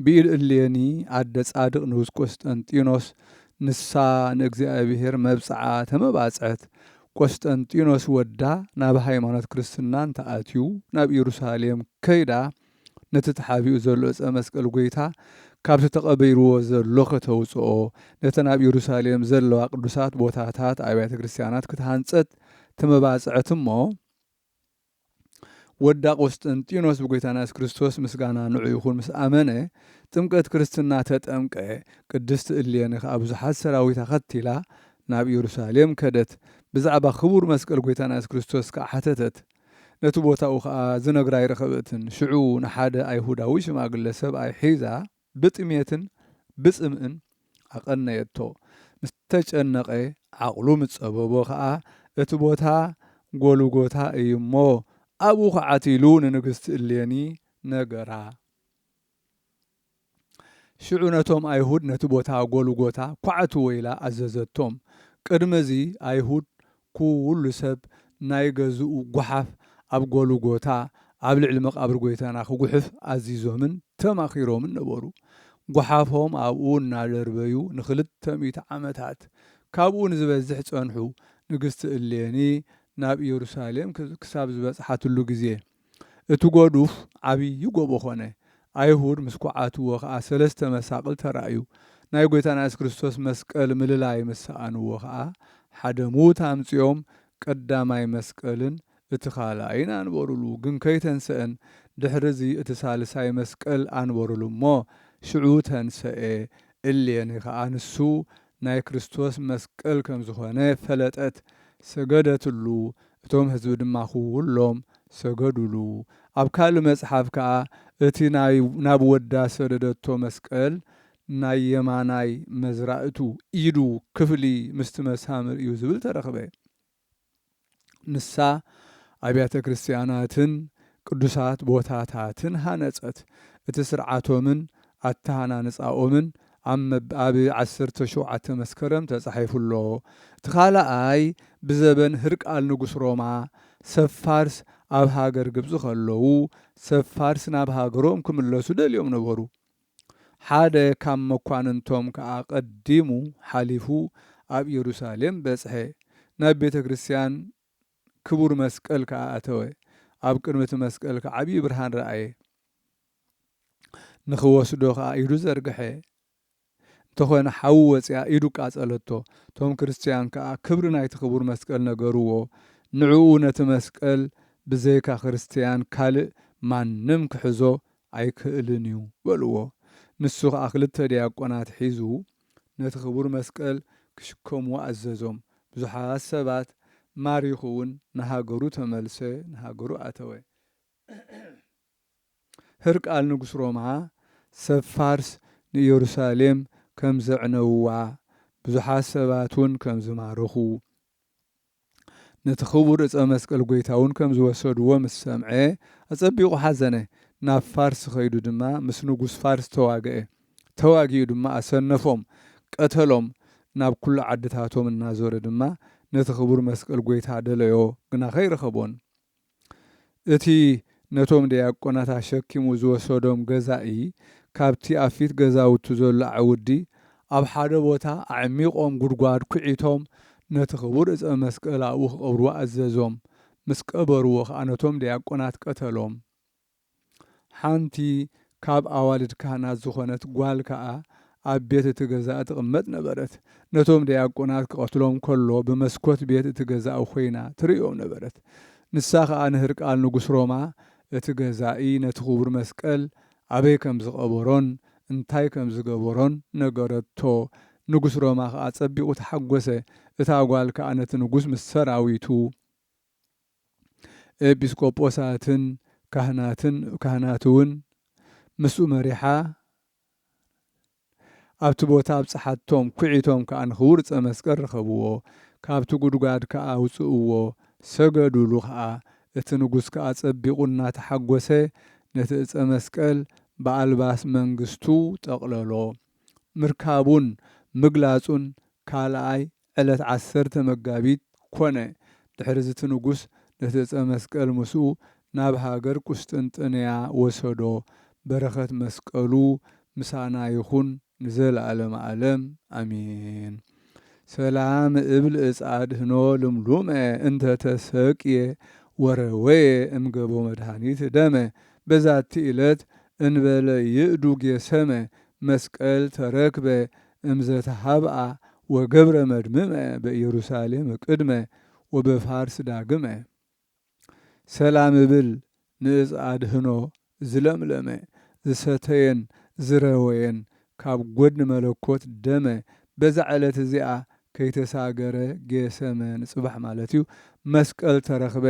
ብኢል እሌኒ ኣደ ጻድቅ ንጉስ ቆስጠንጢኖስ ንሳ ንእግዚኣብሔር መብጽዓ ተመባጽዐት ቆስጠንጢኖስ ወዳ ናብ ሃይማኖት ክርስትና እንተ ኣትዩ ናብ ኢሩሳሌም ከይዳ ነቲ ተሓቢኡ ዘሎ እጸ መስቀል ጎይታ ካብቲ ተቀበይርዎ ዘሎ ከተውጽኦ ነተን ኣብ ኢሩሳሌም ዘለዋ ቅዱሳት ቦታታት ኣብያተ ክርስትያናት ክትሃንጸት ተመባጽዐት እሞ ወዳ ቆስጠንጢኖስ ብጐይታና የሱስ ክርስቶስ ምስጋና ንዑ ይኹን ምስ ኣመነ ጥምቀት ክርስትና ተጠምቀ ቅድስት እሌኒ ከኣ ብዙሓት ሰራዊት ኣኸቲላ ናብ ኢየሩሳሌም ከደት ብዛዕባ ክቡር መስቀል ጐይታና የሱስ ክርስቶስ ከኣ ሓተተት ነቲ ቦታኡ ከኣ ዝነግራ ኣይረኸበትን ሽዑ ንሓደ ኣይሁዳዊ ሽማግለ ሰብኣይ ሒዛ ብጥሜትን ብጽምእን ኣቐነየቶ። ምስ ተጨነቐ ዓቕሉ ምስ ጸበቦ ኸኣ፣ እቲ ቦታ ጐልጐታ እዩ እሞ፣ ኣብኡ ዅዓቲ ኢሉ ንንግስቲ እሌኒ ነገራ። ሽዑ ነቶም ኣይሁድ ነቲ ቦታ ጐልጐታ ኵዓትዎ ኢላ ኣዘዘቶም። ቅድሚ እዚ፣ ኣይሁድ ኩሉ ሰብ ናይ ገዝኡ ጓሓፍ ኣብ ጎልጎታ ኣብ ልዕሊ መቓብር ጎይታና ክጉሕፍ ኣዚዞምን ተማኺሮምን ነበሩ። ጓሓፎም ኣብኡ እናደርበዩ ንኽልተ ሚእቲ ዓመታት ካብኡ ንዝበዝሕ ጸንሑ። ንግስቲ እሌኒ ናብ ኢየሩሳሌም ክሳብ ዝበጽሓትሉ ግዜ እቲ ጐዱፍ ዓብዪ ጐቦ ዀነ፣ ኣይሁድ ምስ ኰዓትዎ ኸኣ ሰለስተ መሳቕል ተራእዩ፣ ናይ ጐይታና የሱስ ክርስቶስ መስቀል ምልላይ ምስ ሰኣንዎ ኸኣ ሓደ ምዉት ኣምጺኦም ቀዳማይ መስቀልን እቲ ኻልኣይን ኣንበሩሉ፣ ግን ከይተንሰእን፣ ድሕርዚ እቲ ሳልሳይ መስቀል ኣንበሩሉ እሞ ሽዑ ተንሰኤ፣ እሌኒ ኸኣ ንሱ ናይ ክርስቶስ መስቀል ከም ዝኾነ ፈለጠት፣ ሰገደትሉ፣ እቶም ህዝቢ ድማ ኩሎም ሰገዱሉ። ኣብ ካልእ መጽሓፍ ከኣ እቲ ናይ ናብ ወዳ ሰደደቶ መስቀል ናይ የማናይ መዝራእቱ ኢዱ ክፍሊ ምስቲ መሳምር እዩ ዝብል ተረኽበ። ንሳ ኣብያተ ክርስትያናትን ቅዱሳት ቦታታትን ሃነጸት። እቲ ስርዓቶምን ኣተሃናንጻኦምን ኣብ ዓሰርተ ሸውዓተ መስከረም ተጻሒፉ ኣሎ። እቲ ካልኣይ ብዘበን ህርቃል ንጉስ ሮማ፣ ሰብ ፋርስ ኣብ ሃገር ግብጺ ከለዉ፣ ሰብ ፋርስ ናብ ሃገሮም ክምለሱ ደልዮም ነበሩ። ሓደ ካብ መኳንንቶም ከኣ ቀዲሙ ሓሊፉ ኣብ ኢየሩሳሌም በጽሐ፣ ናብ ቤተ ክርስቲያን ክቡር መስቀል ከኣ ኣተወ፣ ኣብ ቅድሚ እቲ መስቀል ከኣ ዓብዪ ብርሃን ረኣየ፣ ንኽወስዶ ከኣ ኢዱ ዘርግሐ፣ እንተኾነ ሓዊ ወጺኣ ኢዱ ቃጸለቶ፣ እቶም ክርስቲያን ከኣ ክብሪ ናይቲ ክቡር መስቀል ነገርዎ፣ ንዕኡ ነቲ መስቀል ብዘይካ ክርስቲያን ካልእ ማንም ክሕዞ ኣይክእልን እዩ በልዎ። ንሱ ኸኣ ክልተ ዲያቆናት ሒዙ ነቲ ክቡር መስቀል ክሽከምዎ ኣዘዞም። ብዙሓት ሰባት ማሪኹ እውን ንሃገሩ ተመልሰ፣ ንሃገሩ ኣተወ። ህርቃል ንጉስ ሮማ፣ ሰብ ፋርስ ንኢየሩሳሌም ከም ዘዕነውዋ፣ ብዙሓት ሰባት እውን ከም ዝማረኹ፣ ነቲ ኽቡር ዕፀ መስቀል ጐይታ እውን ከም ዝወሰድዎ ምስ ሰምዐ ኣፀቢቑ ሓዘነ። ናብ ፋርስ ኸይዱ ድማ ምስ ንጉስ ፋርስ ተዋግአ። ተዋጊኡ ድማ ኣሰነፎም፣ ቀተሎም። ናብ ኵሉ ዓድታቶም እናዞረ ድማ ነቲ ኽቡር መስቀል ጐይታ ደለዮ፣ ግና ኸይረኸቦን። እቲ ነቶም ደያቆናት ኣሸኪሙ ዝወሰዶም ገዛኢ ካብቲ ኣብ ፊት ገዛውቱ ዘሎ ኣዕውዲ ኣብ ሓደ ቦታ ኣዕሚቖም ጉድጓድ ኩዒቶም ነቲ ክቡር ዕፀ መስቀል ኣብኡ ክቐብርዎ ኣዘዞም። ምስ ቀበርዎ ኸኣ ነቶም ደያቆናት ቀተሎም። ሓንቲ ካብ ኣዋልድ ካህናት ዝዀነት ጓል ከኣ ኣብ ቤት እቲ ገዛ ትቕመጥ ነበረት። ነቶም ደያቆናት ክቐትሎም ከሎ ብመስኮት ቤት እቲ ገዛ ኰይና ትርእዮም ነበረት። ንሳ ኸኣ ንህርቃል ንጉስ ሮማ እቲ ገዛኢ ነቲ ክቡር መስቀል ኣበይ ከም ዝቐበሮን እንታይ ከም ዝገበሮን ነገረቶ። ንጉስ ሮማ ኸኣ ጸቢቑ ተሓጐሰ፣ እታ ጓል ከኣ ነቲ ንጉስ ምስ ሰራዊቱ። ኤጲስቆጶሳትን ካህናትን ካህናትውን ምስኡ መሪሓ ኣብቲ ቦታ ኣብጽሓቶም፣ ኲዒቶም ከኣ ንኽቡር ዕጸ መስቀል ረኸብዎ፣ ካብቲ ጕድጓድ ከኣ ኣውጽእዎ፣ ሰገዱሉ ኸኣ፣ እቲ ንጉስ ከኣ ጸቢቑ እናተሓጐሰ ነቲ ዕጸ መስቀል ብኣልባስ መንግሥቱ ጠቕለሎ፣ ምርካቡን ምግላጹን ካልኣይ ዕለት ዓሰርተ መጋቢት ኮነ። ድሕርዚ እቲ ንጉስ ነቲ ዕፀ መስቀል ምስኡ ናብ ሃገር ቍስጥንጥንያ ወሰዶ። በረኸት መስቀሉ ምሳና ይኹን ንዘለዓለመ ዓለም ኣሜን። ሰላም እብል እፅ ኣድኅኖ ልምሉመ እንተ ተሰቅየ ወረወየ እምገቦ መድኃኒት ደመ በዛቲ ዕለት እንበለ ይእዱ ጌሰመ መስቀል ተረክበ እምዘ ተሃብኣ ወገብረ መድምመ በኢየሩሳሌም ቅድመ ወበፋርስ ዳግመ። ሰላም እብል ንእፅ ኣድህኖ ዝለምለመ ዝሰተየን ዝረወየን ካብ ጐድኒ መለኮት ደመ በዛ ዕለት እዚኣ ከይተሳገረ ጌሰመ ንፅባሕ ማለት እዩ መስቀል ተረኽበ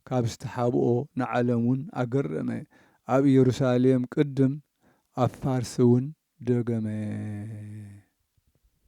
ካብ ዝተሓብኦ ንዓለም እውን ኣገረመ ኣብ ኢየሩሳሌም ቅድም ኣብ ፋርስ እውን ደገመ።